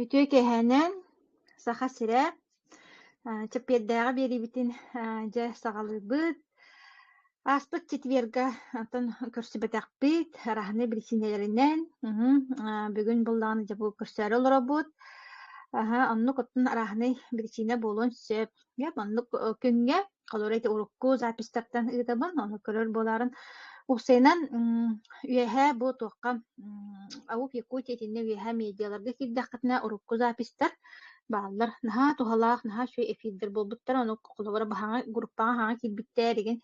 Үтүө кэһээнэн Саха сирэ чэппиэрдээҕи биэриибитин дьэ саҕалыыбыт. Ааспыт четверга оттон көрсүбэтэхпит араһынай биричиинэлэринэн бүгүн буллаҕына дьэ бу көрсөөрү олоробут. Аһа оннук оттон арааһынай биричиинэ буолуон сөп. Дьэ, маннык э, күҥҥэ холурук эти урукку запистьтартан ыытабын, ону көрөр буоларын устайынан үөһээ бу туохха Аук Якутия итиннэ үөһээ медиаларга киирдэххитинэ урукку запистьтар бааллар наһаа туһалаах, наһаа үчүгэй эфирдэр буолбуттара, ону холобура баһаҥа группаҕа хаһаҥа киирбиттэр, эдигин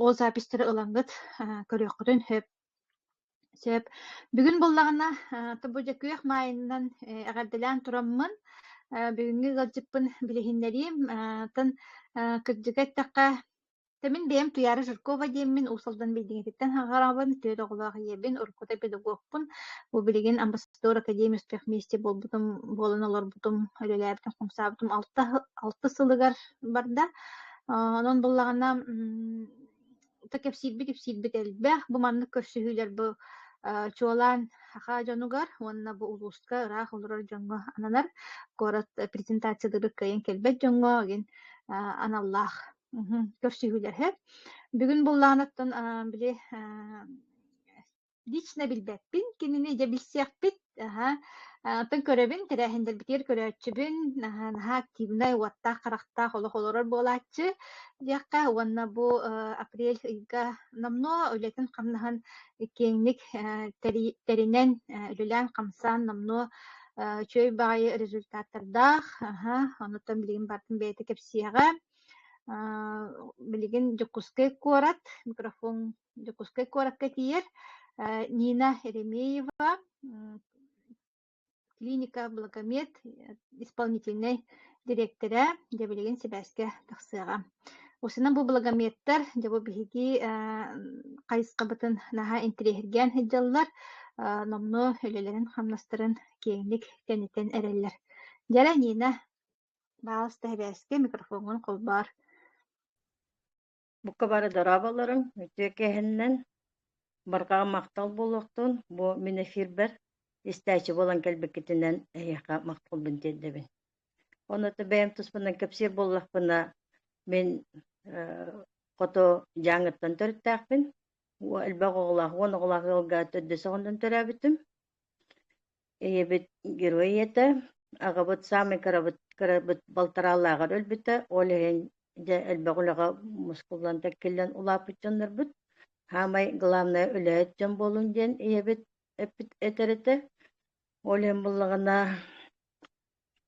ол запистьтары ылаҥҥыт көрүөххүтүн сөп. Сөп. Бүгүн буллаҕына, э, то бу дьэ күөх маайынынан э, эҕэрдэлээн тураммын, э, бүгүҥҥү ыалдьыппын билиһиннэриим. Э, тан э, кырдьыга эттэххэ, Тэмин бэйэм Туйаара Жиркова диэммин, Уус-Алдан билиҥҥититтэн хаҕараабын, төрүт оҕолоох ийэбин, уруккута педагогпун. Бу билигин амбассадор академия успех вместе буолбутум, буолан олорбутум, үлэлээбитим, хомсаабытым алта, алта сылыгар барда. Э, онон буллаҕына, то кэпсиирбит-ипсиирбит элбэх. Бу маннык көрсүһүүлэр бу э, чуолаан саха дьонугар уонна бу улууска ыраах олорор дьоҥҥо ананар куорат презентациялары кыайан кэлбэт дьоҥҥо ген аналлаах көрсүһүүлэр. Бүгүн буллаанаттан били лично билбэппин, кинини дьэ билсиэхпит, аһа, оттон көрөбүн, тэрээһиннэрбитигэр көрөөччүбүн, аһа, наһаа активнай, уоттаах, харахтаах олох олорор буолааччы диэххэ уонна бу апрель ыйга номнуо үлэтин хамнаһын киэҥник тэринэн, үлэлээн-хамсаан номнуо үчүгэй баҕайы результаттардаах, аһа, онуттан билигин бартын бэйэтэ кэпсиэҕэ. Билигин Дьокуускай куорат микрофон Дьокуускай куоракка тиийэр Нина Еремеева, клиника Благомед исполнительнай дириэктэрэ, дьэ билигин сибээскэ тахсыаҕа. Усунан бу благометтар, дьэ бу биһиги хайысхабытын наһаа интириэһиргээн сылдьаллар, номну үлэлэрин-хамнастарын киэҥник кэнитэн эрэллэр. Дьэрэ Нина, бааласта сибээскэ микрофоҥҥун холбоор. Букка бары дорооболоруҥ, үтүө кээһэннэн, барҕаҕа махтал буолуохтун, бу мин эфирбэр истээччи буолан кэлбиккитинэн эһиэхэ махталбын тиэрдэбин. Онуота бэйэм туспунан кэпсиир буоллахпына, мин хото Дьааҥыттан төрүттээхпин. Элбэх оҕолоох, уон оҕолоох ыалга төрдүс оҕонньон төрөөбүтүм. Ийэбит герой ийэтэ, аҕабыт саамай кырабыт, кырабыт балтараалааҕар өлбүтэ, ол иһин дьэ элбэх үлэҕэ мускуллан тэккиллэн улааппыт дьоннорбут. Саамай главное үлэһит дьон буолуҥ диэн ийэбит эппит этэр этэ. Ол иһин буллаҕына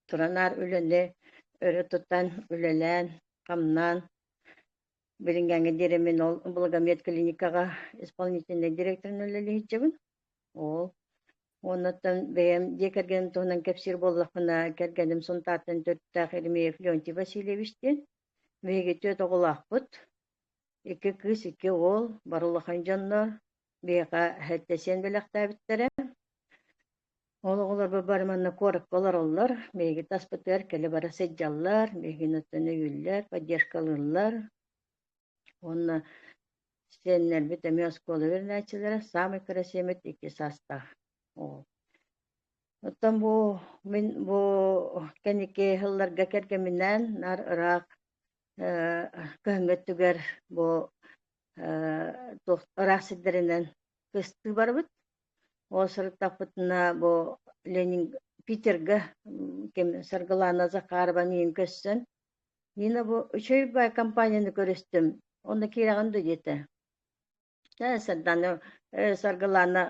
туран наар үлэни өрө тутан, үлэлээн, хамнаан билиҥҥэҥҥэ диэри мин ол благомет клиникаҕа исполнительнай дириэктэринэн үлэлэһиччибин. Ол уоннаттан бэйэм дьиэ кэргэним туһунан кэпсиир буоллахпына, кэргэним Сунтаартан төрүттээх Иримеев Леонтий Васильевич диэн. Биһиги түөрт оҕолоохпут. Икки кыыс, икки уол, бары улахан дьоннор. Биһиэхэ эһэттэсиэн бэлэхтээбиттэрэ. Ол оҕолорбор бары манна куоракка олороллор. Биһиги таспытыгар кэлэ-бара сылдьаллар, биһигини оттон өйүүллэр, поддержкалыыллар. Уонна Сиэннэрбит эмиэ оскуола үөрэнээччилэрэ саамай кэрэсиэммит икки саастаах оҕо. Оттон бу мин бу кэнники сылларга кэргэминээн наар ыраах көһөммөттүгэр бу туох ыраах сирдэринэн кыстыы барбыт. Ол сырыттахпытына бу Ленин Питерга ким Саргылаана Захарова миин көссөн Нина бу «Үчүгэй баай» компанияны көрүстүм уонна киирэҕин дуо диэтэ Ээ, Сардаана, э, Саргылаана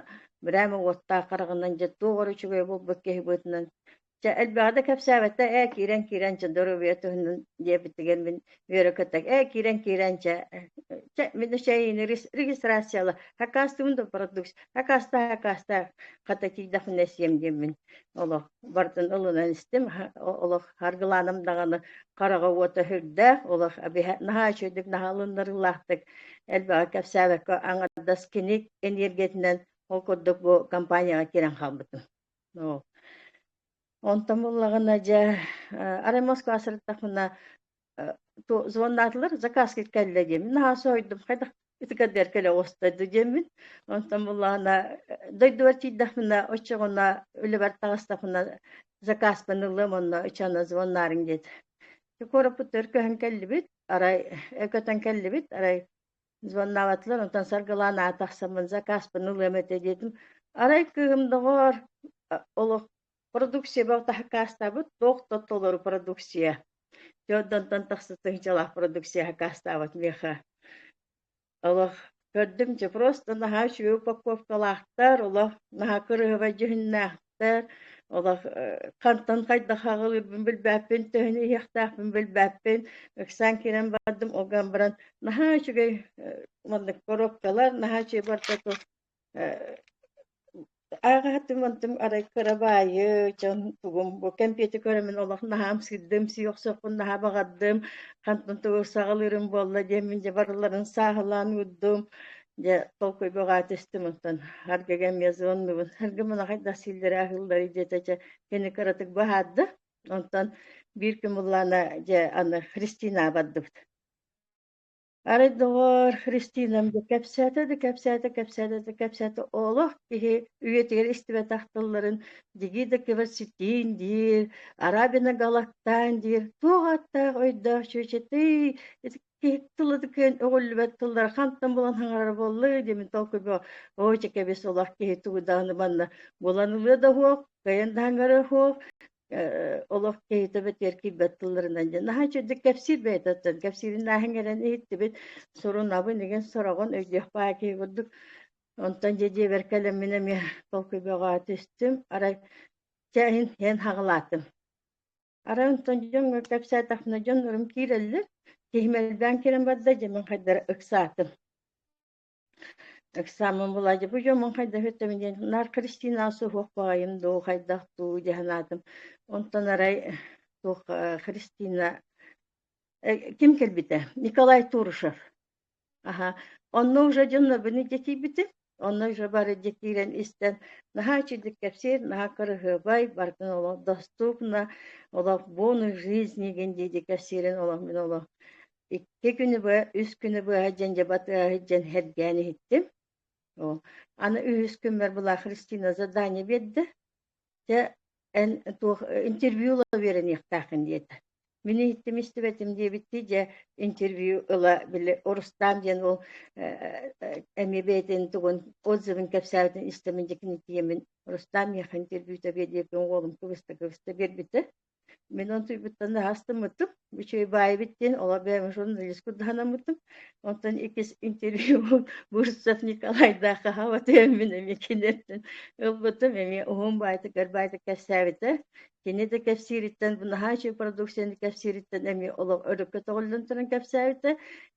бырээм уоттаах хараҕынан дьэ туох эрэ үчүгэй буолбут киһи быытынан Чэ, элбэҕи да кэпсээбэттэр, ээ, киирэн, киирэн, чэ, доруобуйа туһунан диэбиттигэр мин үөрэ-көтө, ээ, киирэн, киирэн, чэ, чэ, мин эчэйиини регистрацияла, аккаастыым да продукт, аккаастаах, аккаастаах, хата тиийдэхпинэ сиэм диэммин олох бартын ылынан истим олох аргылааным даҕаны хараҕа уота үрдээх олох биһэ наһаа үчүгэйдик наһаалыннарыылаахтык элбэҕи кэпсээбэккэ аҥардас кини эниэргиятинэн ол курдук бу компанияҕа киирэн хаалбытым оо онтон буллаҕына дьэ арай москва сырыттахпына звоннаатылар закаски кэллэ диэмин наһаа соһуйдум хайдах ытыкардыар кэлэ оҕустарды диэммин онтон буллаана дойдубар тиийдэхпинэ оччоҕуна үлэбэр таҕыстахпына закаспын ыллым онно ычана звоннаарыҥ диэт куораппыт өр көһөн кэллибит арай көтөн кэллибит арай звоннаабатылар онтон саргылаан аата тахсаммын закаспын ылыам этэ диэтим арай кыым доҕоор олох Продукцияба таһакаастаабыт туох да толору продукция. Те онтон тахса тыһыдьалаах продукция хакаастаабат миэха. Олох көрдүм дьэ просто наһаа үчүгэй упаковкалаахтар, олох наһаа кырыһыбай дьүһүннээхтэр, олох хантан хайдах аҕалыырбын билбэппин, төһөнү иһиэхтээхпин билбэппин. Ыксаан киирэн бардым, оған баран наһаа үчүгэй маннык коробкалар, наһаа үчүгэй бартату Ааҕаһатым онтум арай кырабаайы дьон тугум бу кэмпиэти көрөмүн олох наһаа ымсыырдым, сиохсуппун наһаа баҕардым, хантан тугу саҕалыырым буолла диэммин дьэ барыларын сааһылаан уурдум. Дьэ толкуйга баҕатыстым онтон Харгага эмиэ звоннубун. Харга мана хайдах сииллэрэ аһыылларый диэтэ дьэ кини кыратык быһаарда. Онтон биир кымыллаана дьэ аны Христинаҕа бардыбыт. Арай доҕоор, Христинам да кэпсээтэ да кэпсээтэ, кэпсээтэ да кэпсээтэ, олох киһи үйэтигэр истибэтэх тылларын дии да кэбэр ситиин диир, Арабина Галактаан диир, туох ааттаах өйдөөх чүөчэтэй киһи тылытыкын өҕүллүбэт тыллар хантан булан хаҥарара буоллуй диэмин толкуйга ой чэкэбис олох киһи туудааны манна булан ылыа да оһуох, кыайан да хаҥара оһуох, олох киһитэ тиэркийбэт тылларынан дьэ наһаа үчүгдүк кэпсиир бэйэтиттэн кэпсиирин ааһан кэлэн иһиттибит сурунабын игин сороҕун өйдүөх баа киһи курдук онтон дьэ дьиэбэр кэлэммин эмиэ толкуйбаҕа түстүм арай чэ иһин иһэн хаҕылаатым арай онтон дьон кэпсээтэхпинэ дьоннорум киирэллэр киһим элбээн кэлэн барда дьэ мин хайдара ыксаатым Ыксааммын булаадьы дьоммун хайдах үттэбин диэн наар Кристина суһуох баҕайым дуу, хайдах дуу дии санаатым. Онтон арай туох э, Кристина э, ким кэлбитэ? Николай Турушев. Аха. Онно уже дьоннобуну детийбити. Онно уже бары детиирэн истэн наһаа үчүгдүк кэпсиир, наһаа кыраһыабай, барытын олох доступна, олох бонус жизнигин диэки кэпсиирин олох мин олох Икки күнү быһа, үс күнү быһа дьэндьэбэ тыаһа сылдьан сэргээн иһиттим. Оо, аны үһүс күммэр была Христина задание биэрдэ. Дьэ, эн туох интервью ыла үөрэниэхтээххин диэтэ. Мин иһиттим истибэтим диэбиттии, дьэ, интервью ыла били Орустаан диэн ол эмиэ бэйэтин тугун отзывын кэпсээбитин истэмин дьикини тиэмин Рустам миэхэ интервьюта биэрдиэппин уолум кыбыста-кыбыста биэрбитэ. Мин онтуйбуттан астыммытым, Мичийбаайбыт диэн олох бэйэм журналист курдаханаммытым. Онтон иккис интервьюбун Бурцев Николайдаах хаһаабатыйаммын эмиэ киниттэн ылбытым, эмиэ уһун баайтыгар баайта кэпсээбитэ. Кини да кэпсиириттэн, bu наһаа продукцияны кэпсиириттэн эмиэ олох өрүккэ көтөҕүллэн туран кэпсээбитэ.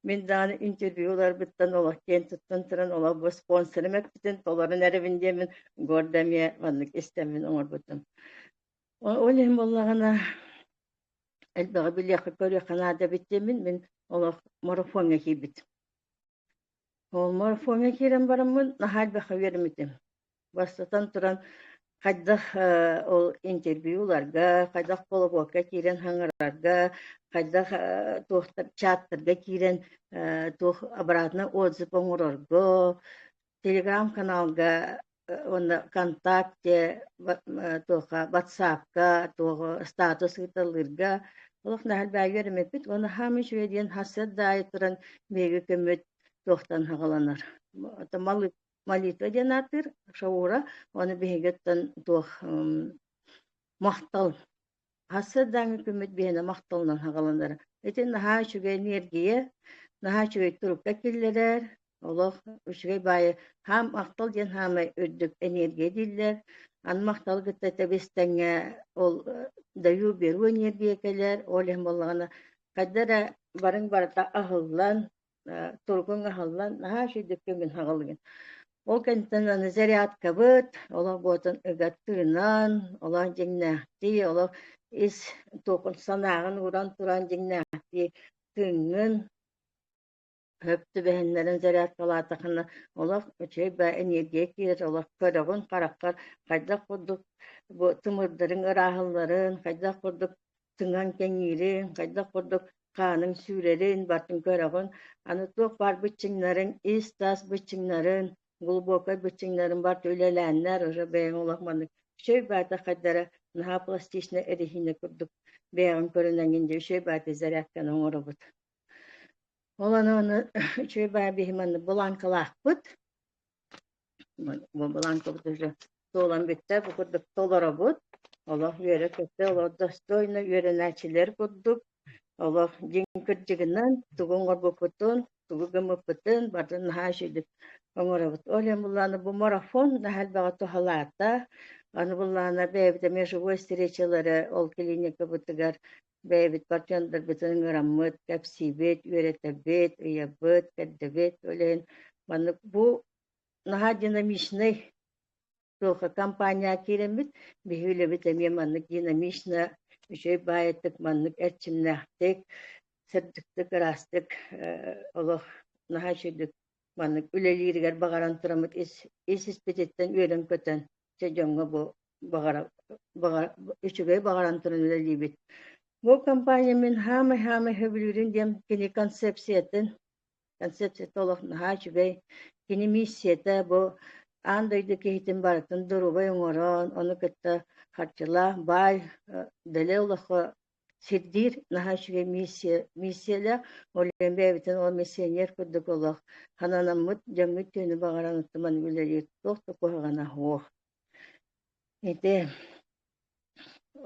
Мин даҕаны интервью ыларбыттан олох киэн туттан туран олох бу спонсорым эппитин толорон эрэбин диэмин гордо эмиэ маннык истэммин оҥорбутум. Ол иһин буоллаҕына элбэҕи билиэххэ, көрүөххэ наадабыт диэмин мин олох марафоҥҥа киирбитим. Ол марафоҥҥа киирэн бараммын наһаа элбэххэ үөрэммитим. Бастатан туран, хайдах э, ол интервью ыларга, хайдах колобуокка киирэн хаҥарарга, хайдах э, туохтар чааттарга киирэн э, туох обратно отзыв оҥорорго, телеграм-каналга уонна ВКонтакте, туоха WhatsApp-ка, туоҕу статус ыыталыырга олох наһарбаайга эрэммиппит уонна хаам үчүгэй диэн хасыат даайы туран биһиги көммүт туохтан хаҕаланар. молитва диэн аатыыр шаура, оны биһиги туох махтал Ассырдааҥҥы күммүт биһиэнэ махталынан хаҕыланара. Итин наһаа үчүгэй энергия, наһаа үчүгэй турукка киллэрэр, олох үчүгэй баайы хаам махтал диэн хаамай үрдүк энергия дииллэр. Аны махталы кытта тэбис-тэҥҥэ ол даю беру энергия кэлэр, ол иһин буоллаҕына хайда эрэ барыҥ барыта аһыллан, тургун аһыллан наһаа үчүгэйдик бүгүн хаҕылыгын. Ол кэнниттэн аны зарядкабыт, олох буотун ыгаттыынан, олох дьиҥнээхтии, олох ис туокун санааҕын ууран туран дьиҥнээхтии тыҥҥын, хөп түбэһиннэрэн зарядкалаатахына олох үчүгэй баа эниэргийэ киирэр, олох көрөҕүн хараххар хайдах курдук бу тымырдарын ырааһылларын, хайдах курдук Сыҥаҥ кэҥиирин, хайдах курдук хааныҥ сүүрэрин, бартын көрөҕүн, аны туох баар быччыҥнарыҥ, ис-тас быччыҥнарын, глубокай быччыҥнарын барыта үлэлээннэр, уже бэйэҥ олох маннык өсөй-баатахайдара наһаа пластичнай эриһиинэ курдук бэйэҕин көрүнэҥҥин диэн өсөй-баатай зарядканы оҥоробут. Ол аны оны үчүгэй баай биһи маннык бланкалаахпыт. Туолан бүттэ бу курдук толоробут. Олох үөрэ-көтө, олох достойно үөрэнээччилэр курдук, олох дьиҥ кырдьыгынан тугу оҥорбуппутун, тугу гыммыппытын бары наһаа үчүгэй оҥоробут. Ол иһин Буллаана бу марафон наһаа элбэҕи туһалаата. Аны Буллаана бэйэбит эмиэ живой встречалары ол клиникабытыгар бэйэбитигэр дьалдарбытын ыҥыраммыт, кэпсиибит, үөрэтэбит, ыйабыт, кэрдэбит, ол иһин маннык бу наһаа динамичнай туохха компания киирэммит, биһи үлэбит эмиэ маннык динамично, үчүгэй баайыттык, маннык эрчимнээхтик, сырдыктык, ыраастык олох наһаа үчүгэй маннык үлэлииригэр баҕаран тураммыт ис ис испититтэн үөрэн-көтөн Дьэ дьоҥҥо бу баҕара, баҕара, үчүгэй баҕарантын үлэлиибит. Бу компания мин хаамай-хаамай сөбүлүүрүн диэн кини концепциятын, концепцията олох наһаа үчүгэй. Кини миссията бу аан дойду киһитин барытын доруобай оҥорон, ону кытта харчылаах баай, дэлэ олоххо Сирдиир наһаа үчүгэй миссия, миссиялээх. Олен бэйэбитин ол миссионер курдук олох хананаммыт дьоҥҥут түөнү баҕаран оттуман үлэлиир туох да куһаҕана суох. Ити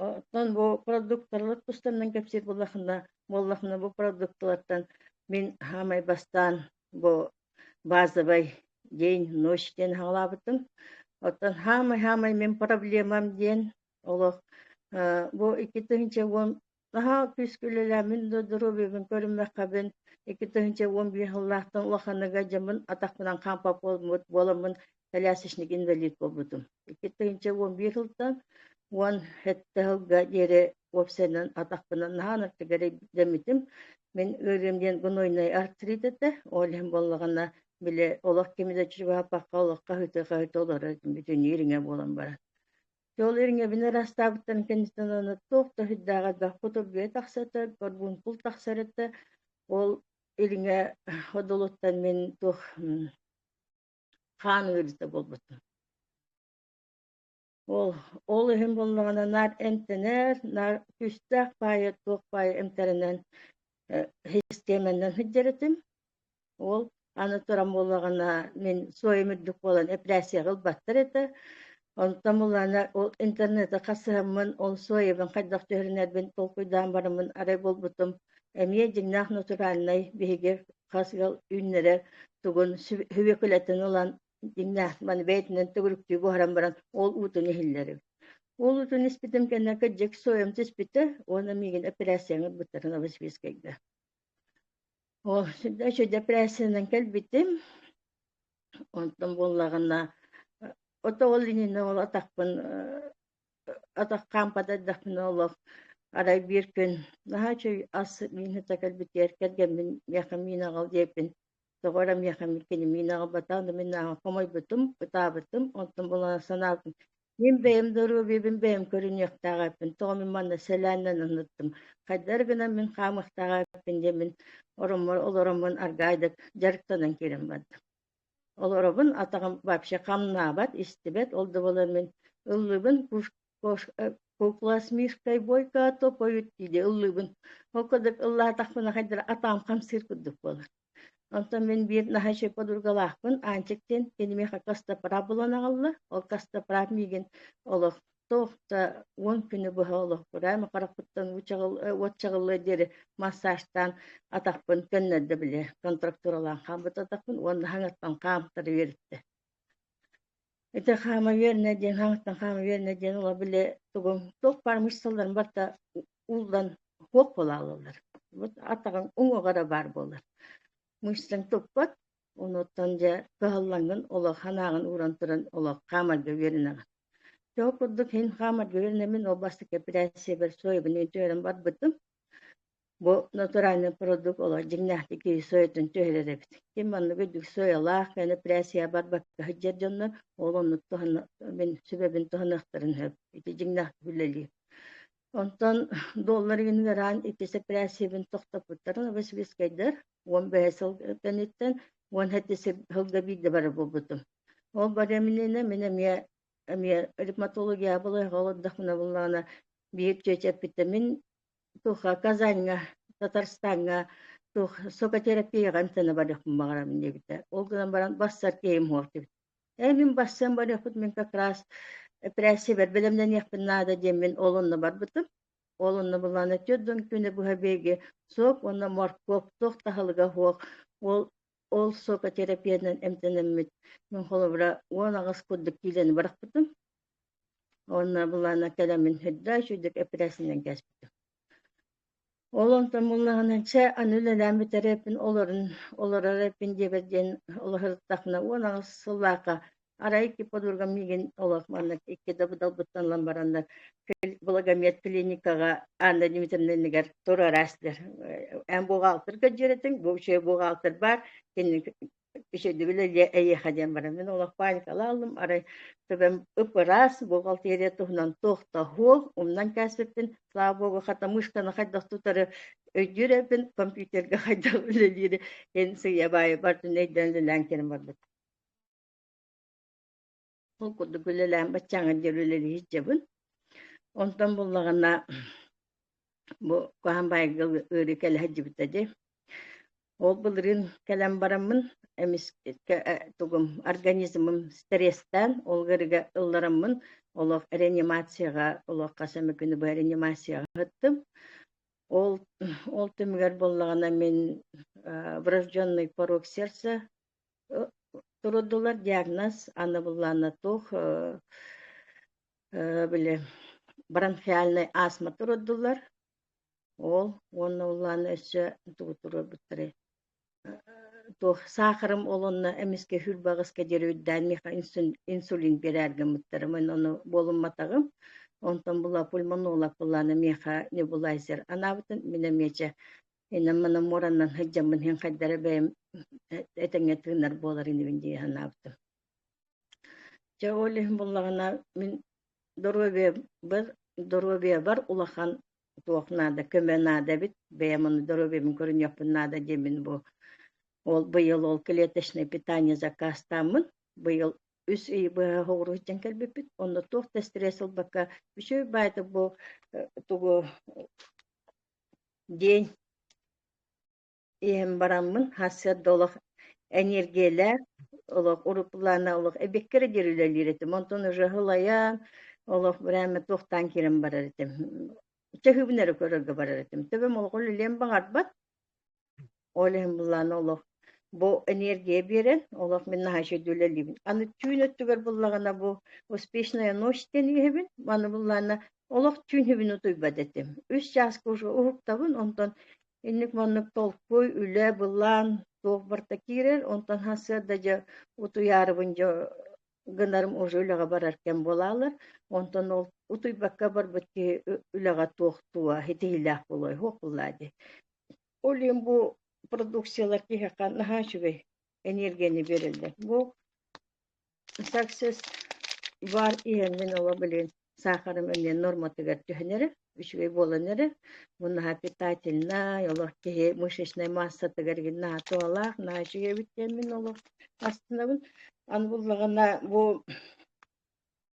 оттон бу продукталар тустаннан кэпсиир буоллахына буоллахына бу продукталартан мин хаамай бастаан бу базовай день ночь диэн хаалаабытым. Оттон хаамай-хаамай мин проблемам диэн олох бу икки тыһыынча уон наһаа күүскэ үлэлээмин да доруобуйабын көрүммэххэбин икки тыһыынча уон биир сыллаахтан улаханыга дьэммин атахпынан хаампа буолбут буоламмын колясочник инвалид буолбутум икки тыһыынча уон биир сылтан уон сэттэ сылга диэри уопсайынан атахпынан наһаа аттыгар дэммитим мин ыарыым диэн гнойный артрит этэ ол иһин буоллаҕына били олох кими да чугаһаппакка олоххо ыһыты-хаһыты олорор бүтүнүү ириҥэ буолан баран Ол ириҥэбин ыраастаабыттан кэнниттэн ылана туох да өһүйдээҕэ да, хоту бүө тахса өтө, борбуункул тахсар өтө, ол ириҥэ одолуттан мин туох хаан ыарыыта буолбутум. Ол ол иһин буоллаҕына наар эмтэнэр, наар күүстээх паайа туох паайа эмтэринэн, э, систиэмэннэн сылдьар этим. Ол аны туран буоллаҕына мин суойум үрдүк буолан эпиляцияҕа ылбаттар этэ. Онтон булаана ол интернеты хасыһаммын, ол суойабын хайдах түһэринэрбин толкуйдаан бараммын арай буолбутум эмиэ дьиҥнээх натуральнай биһиги хас ыал үүннэрэр тугун сү- хүвүкүлэтин ылан дьиҥнээх маны бэйэтинэн төгүрүктүү буһаран баран ол уутун иһиллэрим. Ол уутун испитим кэннэ кырдьык суойам түспүтэ уонна миигин эпиляцияҕа ылбыттарын обосвискайга. Ол еще депрессиянан кэлбитим. Онтон буоллаҕына от ол иннинэ ол атахпын атах хаампата эрдэхпинэ олох арай биир күн наһаа үчүгэй ас миинэтэ кэлбитигэр кэргэммин миэхэ миин аҕал диэбиппин тоҕо эрэ миэхэммит кини миин аҕабатаҕын да мин нааҕа хомойбутум ытаабытым онтон булан санаабытым мин бэйэм доруобуйабын бэйэм көрүнүөхтээх эппин тоҕо мин манна сэлээннэн анныттым хайдары гынан мин хаамыахтаах эппин диэн мин ороммор олороммун аргаайдык дьарыктанан кэлэн бардым олоробун атаҕым вообще хамнаабат истибэт ол да буолан мин ыллыыбын Кукласмирскай буойка топойут диди ыллыбын. Ол курдук ыллаатахпына хайдара атаам хамсыыр курдук буолар. Онтон мин биир наһачы подругалаахпын Аанчык диэн кинимиэхэ Кастапара булан аҕалла. Ол Кастапара миигин олох туох да уон күнү быһа олохпура эми харахпыттан уот чаҕыллыа диэри массажтаан атахпын көннөрдө били контрактуралаан хаамбыт атахпын уонна хаҥаттан хаамтара үөрүттэ Ити хаамыйыанна диэн, хаамыттан хаамыйыанна диэн ыла били тугум туох баар мышцаларын барыта ууллан куох буолааллар. Вот атаҕыҥ уҥуоҕа эрэ баар буолар. Мышцаҥ туппат, онуттан дьэ кыһаллаҥҥын олох санааҕын ууран туран олох хаамарга үөрэнэҕин. Чого курдук иһин хаамарга үөрэнэмин ол бастакы эпэрээссийэбэр соевыны үтүөрэн барбытым. Бу натуральный продукт олох дьиҥнээхтик киһи сойотун түһэрэр эбит. Ким маннык үрдүк сыойалаах кэнэпрээссийэбэр бакка сылдьар дьоннор ол оннук туһана мин сүбэбин туһаныахтарын сөп. Ити дьиҥнээхтик үлэлиир. Онтон доллар генераль иккис эпэрээссийэбин тохтоппуттарын обосвискайдар уон бэһис сыл кэнниттэн уон сэттис сылга биирдэ бары буолбутум. Ол барымнина мин эмиэ эмиэ ревматология болойга олордохпуна буллаҕына биир чүөчэппиттэ мин туха Казаҥҥа, Татарстаҥҥа туох сокотерапияҕа ынтына барыахпын баҕарабын диэбитэ. Ол гынан баран барсар киһим уһуохтубут. Эй, мин барсыан барыахпыт, мин как раз эпэрээссийэбэр бэлэмнэниэхпин наада диэммин ол онно барбытым. Ол онно булаана түөрт дон күнэ быһа биһиги соп уонна моркуоп туох таһылыга суох ол ол сокотерапиянан эмтэнэммит. Мин холобура уон аҕыс курдук киилэни барахпытым. Уонна былаана кэлэмин сырда үчүгдүк эппирэсинэн кэспитим. Ол онтон муннаһынан чэ аны үлэлээн бүтэрэппин олорон олорорэппин диэбэт диэн олоһурдаххына уон аҕыс сыллаахха арай икки подругам миигин олох манна икки да будалбыттан ылан бараннар благомет клиникаҕа Анна Дмитриевна иннигэр туруораастылар. Эн буҕаалтыр көдьүүрэтиҥ, бу үчүгэй буҕаалтыр баар, кини Ичэйдибилэ эйиэхэ диэн баран мин олох паникалааллым арай төбөм ып-ыраас бухгалтерия туһунан туохтаһуо умнан кээспиппин слава богу хатамыышканы хайдах тутары өйдүүр эбин компьютерга хайдах үлэлиири эн сыыйа баайы бартын өйдөөн үлэлээн кэлэн барбыт Ол курдук үлэлээн баччаҥа диэри үлэлиир дьабын. Онтон буллаҕына бу хаһан баайга ыарыы кэлэ сылдьыбыта дии. Ол былырыын кэлэн бараммын эмискэ тугум организмым стрестээн ол ырыга ыллараммын олох реанимацияҕа олох хас эмэ күнү быһа реанимацияҕа ыһыттым. Ол ол түмүгэр буоллаҕына мин врожденный порог сердца Турудулар диагноз аны былааннатуох били бронхиальнай астма туруддулар ол уонна улаана өссө тугу туруорбуттарай туох саахарым ол онно эмискэ хүйрбэҕэскэ диэри үрдээн миэхэ инсулин биэрээр гыммыттарым ону буолумматаҕым онтон була пульмонолог былаана миэхэ небулайзер анаабытын мин эмиэ дьэ инам-манам муораннан сылдьаммын иһин хайдара бэйэм этэҥҥэ тыынар буолар инибин дии санаабытым. Дьэ ол иһин буллаҕына мин доруобуйабар доруобуйабар улахан туох наада көмө наада эбит бэйэм ону доруобуйабын көрүнүөхпүн наада диэмин бу ол быйыл ол клеточный питание закаастааммын быйыл үс ый быһа соҕуруу сылдьан кэлбиппит онно туох да стресс ылбакка үчүгэй баайда бу тугу диэн иһэн бараммын сарсыарда олох эниэргийэлээх олох уруккулаана олох эбэккэрэ диэри үлэлиир этим онтон ыһыл айаан олох бырааmme туохтаан киирэн барар этим чэһүбүн эрэ көрөргө барар этим төбөм олох үлэлиэн баҕарбат Ол иһин былаан олох бу энергия биэрэн, олох мин наһаа үлэлиибин. Аны түүн өттүгэр буллаҕына бу «Успешная ночь» диэн иһэбин. Маны буллаана олох түүн хүбүн утуйбат этим. Үс чааска уже уһуктабын, онтон инник маннык толкуй, үлэ, былаан туох барта киирэр, онтон сырда дьэ утуйаарыбын дьэ гынарым уже үлэҕэ барар кэм буолалар. Онтон ол утуйбакка барбыт киһи үлэҕэ туохтуа, хитиһиилээх буолуой, хуох буллаа дии. Ол иһин бу продукциялар киһиэхэ наһаа үчүгэй эниэргияны биэрэллэр. Бу Success бар иһэннин ола билин саахарым иннин норматыгар түһэн эрэ үчүгэй буолан эрэ муннаха питательнай олох киһи мышечнай массатыгар игин наһаа туһалаах наһаа үчүгэй эбит диэн мин олох астынабын аны буллаҕына бу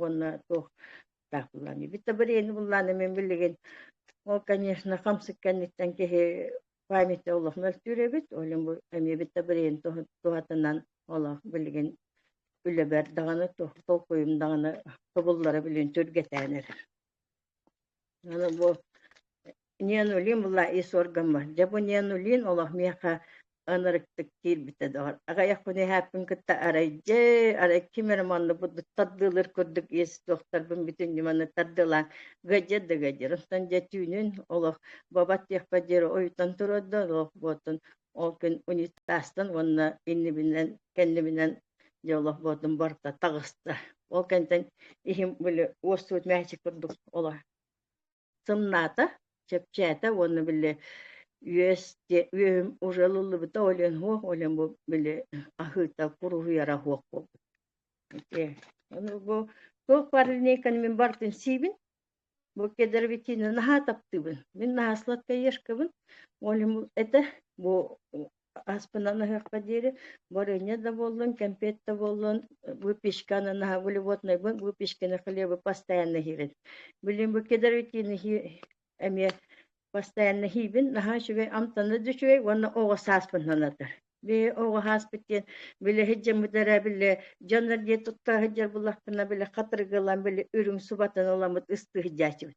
уонна туох таах буллаан бүттэ бириини буллаан эмин билигин ол конечно хамсык кэнниттэн киһи памяти олох мөлтүүр эбит олим бу эмиэ бүттэ бириин туһатынан олох билигин үлэбэр даҕаны толкуйум даҕаны тобуллара билин түргэтээн эрэр аны бу Ньиануллин была ис органма. Дьэ бу Ньиануллин олох миэхэ ынырыктык киирбитэ доҕор. Аҕайахпын иһээппин кытта арай дьэ арай ким эрэ манныбыт тардыылыр курдук иэс суохтарбын бүтүн ньыманы тардылаан гадьыр да гадьыр. Онтон дьэ түүнүн олох бабат диэхпэ диэри ойутан турарда олох буотун ол күн унитазтан уонна иннибинэн кэннибинэн дьэ олох буотун барта таҕыста. Ол кэнтэн иһим били уоссуут мээчик курдук олор сымнаата, чэпчээтэ уонна били үөс диэ үөһүм уже ылыллыбыта олен хуох олен бу били аһыыта куруһуйара хуох буолбут Окей. Ну, бу туох варильниканы мин бартын сиибин бу кедровитины наһаа таптыыбын мин наһаа сладкоежкабын олен бу это бу Ааспынан аһыахха диэри варенье да буоллун, кэмпиэт да буоллун, выпечканы наһаа волеводнайбын, выпечканы, хлебы постоянно иһиибин. Билим бу кедровитины иһии эмиэ постоянно иһиибин, наһаа үчүгэй амтанна да үчүгэй уонна оҕо сааспыннан атар. Бии оҕо хааспыт диэн били һыддьаммыт эрэ били дьоннор дии туттаа сылдьар буллахпына били хатыргылан били үрүҥ субатын ыламмыт ыстыы сылдьааччыбыт.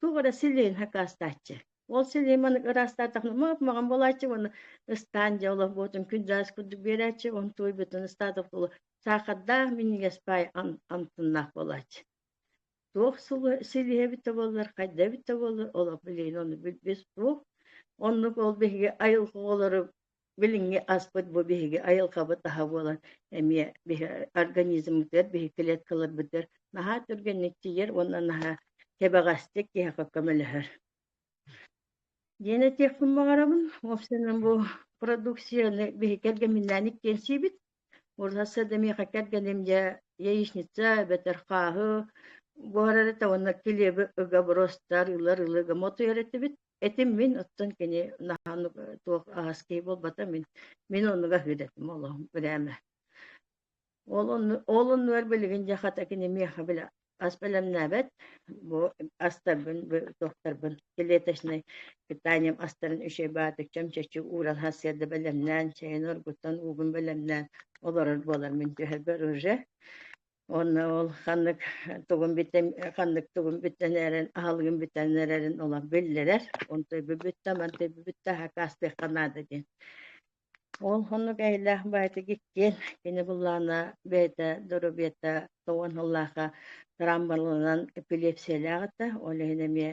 туох эрэ силиин хакаастааччы. Ол силиин маннык ыраастаатахына мап-маҕан буолааччы уонна ыстаан дьэ олохбутун күн дьаас курдук биэрээччи уон туой бүтүн ыстаатык тула саахардаах минньигэс паай антыннаах буолааччы. Туох силиһэ эбиттэ буоллар, хайда эбиттэ буоллар, олох билиин ону билбис туох оннук ол биһиги айылҕа оҕолору Билиҥҥи аспыт бу биһиги айылҕабыт аһа буолан эмиэ биһи организммытыгар биһи клеткаларбытыгар наһаа түргэнник тиийэр уонна наһаа кэбэҕэстик киһиэхэ көмөлөһөр. Диэн этиэхпин баҕарабын. Вовсинын бу продукцияны биһи кэргэминээн иккиэнсийбит. Урсасса да миэхэ кэргэним дьэ яичница эбэтэр хааһы буһар эрэ уонна килиэби ыга бростар, ылар ылыга мотуйар этибит. этим мин оттон кини наһаннык туох аһаский буолбата мин мин оннуга ыһыдатым олоһум ырәэмэ ол онну ол оннугар билигин дьэ хата кини миэхэ бile ас бэлэмнээбэт бу астарбын туохтарбын клеточнай питанием астарын үчүгэй баатыкчам чэччи ууран хасыйарда бэлэмнээн чэйин оргуттан уугун бэлэмнээн олорор буолар мин түһэрбэр уже Уонна ол ханнык тугун бүтэн ханнык тугун бүтэн эрэн аһылыгын бүтэн эрэрин улам биллэрэр. Он тойбу бүтtä, ман тойбу бүтtä хакаастыахха наада диэн. Ол хоннук эһэлээх баайта гиккиэн кини буллаана бэйэтэ доробиета тоуан ыллааха трамбалынан эпилепсиялааҕыта ол иһин эмиэ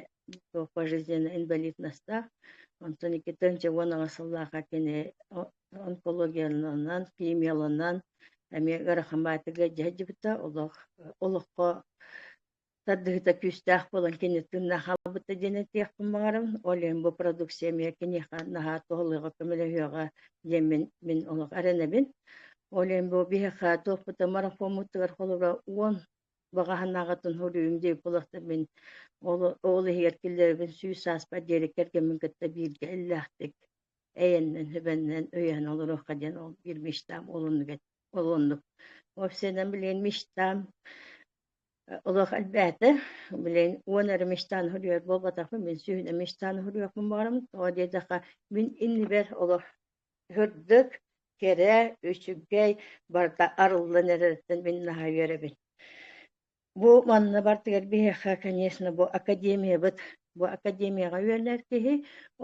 пожизненно инвалид настаах онтон икки тыһыынча уон аҕыс сыллааха кини онкологияланан, химияланан эмиэ ыарахамаатыга дьэ сылдьыбыта, олох олоххо тардыһыта күүстээх буолан кини тыыннаах хаалбыта диэн этиэхпин баҕарабын. Ол иһин бу продукция эмиэ киниэхэ наһаа туһалыаҕа, көмөлөһүөҕэ диэн мин мин олох эрэнэбин. Ол иһин бу биһиэхэ туохпута марафоммутугар холобура уон баҕаһынааҕытын суруйум диэбит буолахтар мин ол ол иһигэр киллэрэбин сүүс сааспар диэри кэргэммин кытта бииргэ иллээхтик эйэннэн-сэбэннэн өйөһөн олоруохха диэн ол биир мечтам ол оннук ол оннук уопсайынан билин мечтам олох элбээтэ билин уон эрэ мечтаны хуруйар буолбатахпын мин сүүһүнэ мечтаны хуруйуохпун баҕарам тоҕо диэтэххэ мин иннибэр олох үрдүк кэрэ үчүгэй барыта арыллан эрэриттэн мин наһаа үөрэбин Бу манна бартыгар биһиэхэ, конечно, бу академиябыт, бу академияҕа үөрэнэр киһи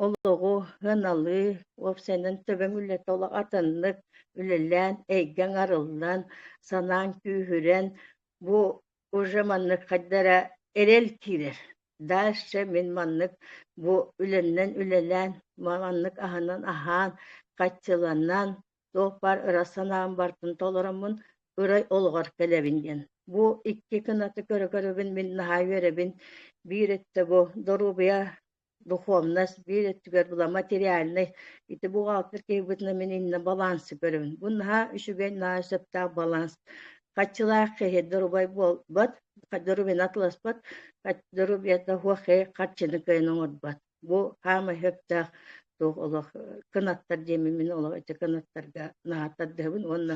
олоҕу сыаналыы, уопсайынан төбөҥ үлэтэ олох атыннык үлэлээн, эйгэ аҥарыллан, санааҥ күүһүрэн, бу уже маннык хайда эрэ эрэл киирэр. Дальше мин маннык бу үлэннэн үлэлээн, маннык аһынан аһаан, хаччыланан, Туохпар ыра санаам бартын толороммун ырай олоҕор кэлэбин диэн. Бу икки кынаты көрө-көрөбүн мин наһаа үөрэбин. Биир өттө бу доруобуйа, духовность, биир өттүгэр була материальнай. Ити бухгалтер киһибитинэн мин иннэ балансы көрөбүн. Бу наһаа үчүгэй, наһаа сөптөөх баланс. Хаччылаах киһи доруобай буолбат, доруобуйаны атыласпат, доруобуйата хуохи харчыны кыайан оҥорбот. Бу хаамай сөптөөх туох олох кынаттар диэми мин олох ити кынаттарга наһаа тардыһабын уонна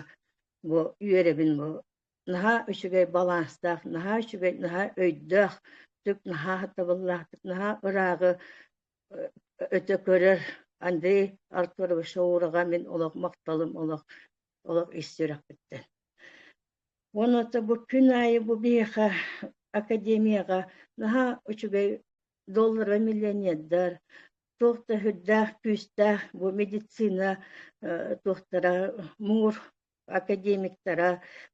бу үөрэбин бу наһаа үчүгэй баланстаах, наһаа үчүгэй, наһаа өйдөөх, наһаа табыллаахтык, наһаа ырааҕы өтө көрөр Андрей Артурович Шаураҕа мин олох махталым олох олох ис сүрэхпиттэн. Уонна бу күн аайы бу биһиэхэ академияҕа наһаа үчүгэй доллара миллионердар туох да сүрдээх күүстээх бу медицина туохтара муҥур академиктара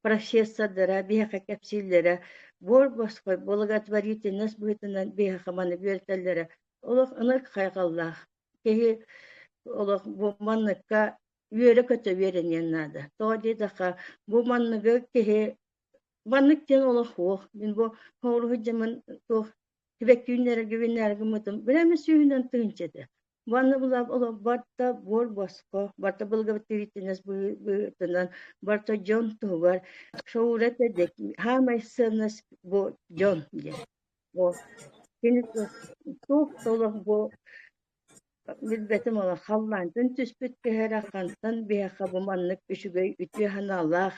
профессордара биһиэхэ кэпсииллэрэ буор босхой благотворительность быһыытынан биһиэхэ маны бүөлтэллэрэ олох ынырык хайҕаллаах киһи олох бу манныкка үөрэ-көтө үөрэниэн наада тоҕо диэтэххэ бу манныгы киһи маннык диэн олох уох мин бу хоруһу дьамын туох Сибэккииннэргэ гыммытым, били эмэ сүүһүнэн тыһыынча этэ. Уонна булаап олорбор да буор боско, барта благовествительность быһыытынан, барта дьон туһугар шоура этэ диэн, хаамай сыанность бу дьон диэн. Бу кини туох толох бу билбэтим ола халлаантан түспүт кэһэрэ хантан биһэхэ бу маннык үчүгэй үтүө санаалаах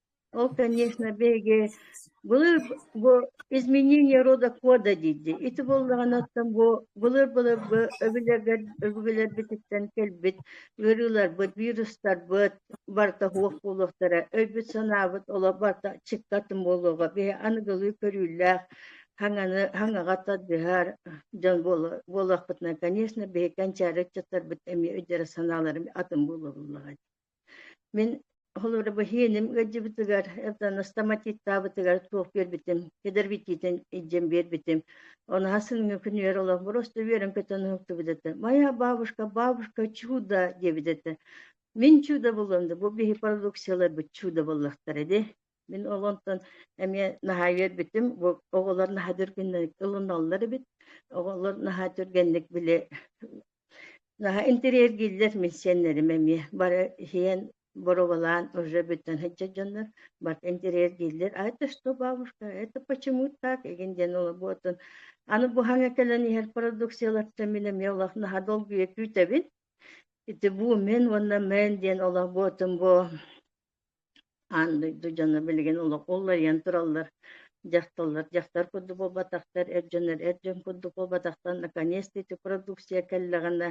Ол, конечно, биһиги былыр бу изменение рода кода дииллэр. Ити буоллаҕына оттон бу былыр-былыргы өбүлэргэр өбүлэрбититтэн кэлбит ыарыыларбыт, вирустарбыт барыта суох буолуохтара. Өйбүт-санаабыт олох барыта чыкка атын буолуоҕа. Биһи аныгылыы көрүүлээх хаҥаны хаҥаҕа тардыһар дьон буола- буолуохпутуна, конечно, биһи кэнчээри ыччаттарбыт эмиэ өйдөрө-санаалара атын буолуоллаҕа дии Мин холуурабыһыйынным ыалдьыбытыгар, Евдана стоматиттаабытыгар туох биэрбитим, кэдэрбитиитин илдьэн биэрбитим. Онаһа-сыҥҥа күнүгэр олох просто үөрэн көтөн уһуктубут этэ. «Моя бабушка, бабушка, чудо!» диэбит этэ. Мин чудо буоллам да, бу биһи продукцияларбыт чудо буоллахтара дии Мин ол онтон эмиэ наһаа үөрбүтүм. Бу оҕолор наһаа түргэнник ылыналлар эбит. Оҕолор наһаа түргэнник били наһаа интэриэргииллэр миссиэннэрим эмиэ. Бары иһийэн боруобалаан уже бүтэн сылдьар дьоннор барыта интэриэргииллэр. А это что, бабушка, это почему так? Игин диэн олорбутун аны буһаҥа кэлэн иһэр продукциялартан мин эмиэ олох наһаа долгуйа күүтэбин. Ити бу мен уонна мен диэн олорбутум бу Аан дойду дьоно билигин олох уларыйан тураллар, дьахталлар дьахтар курдук буолбатахтар, эр дьоннор эр дьон курдук буолбатахтар, наконец-то ити продукция кэллэҕинэ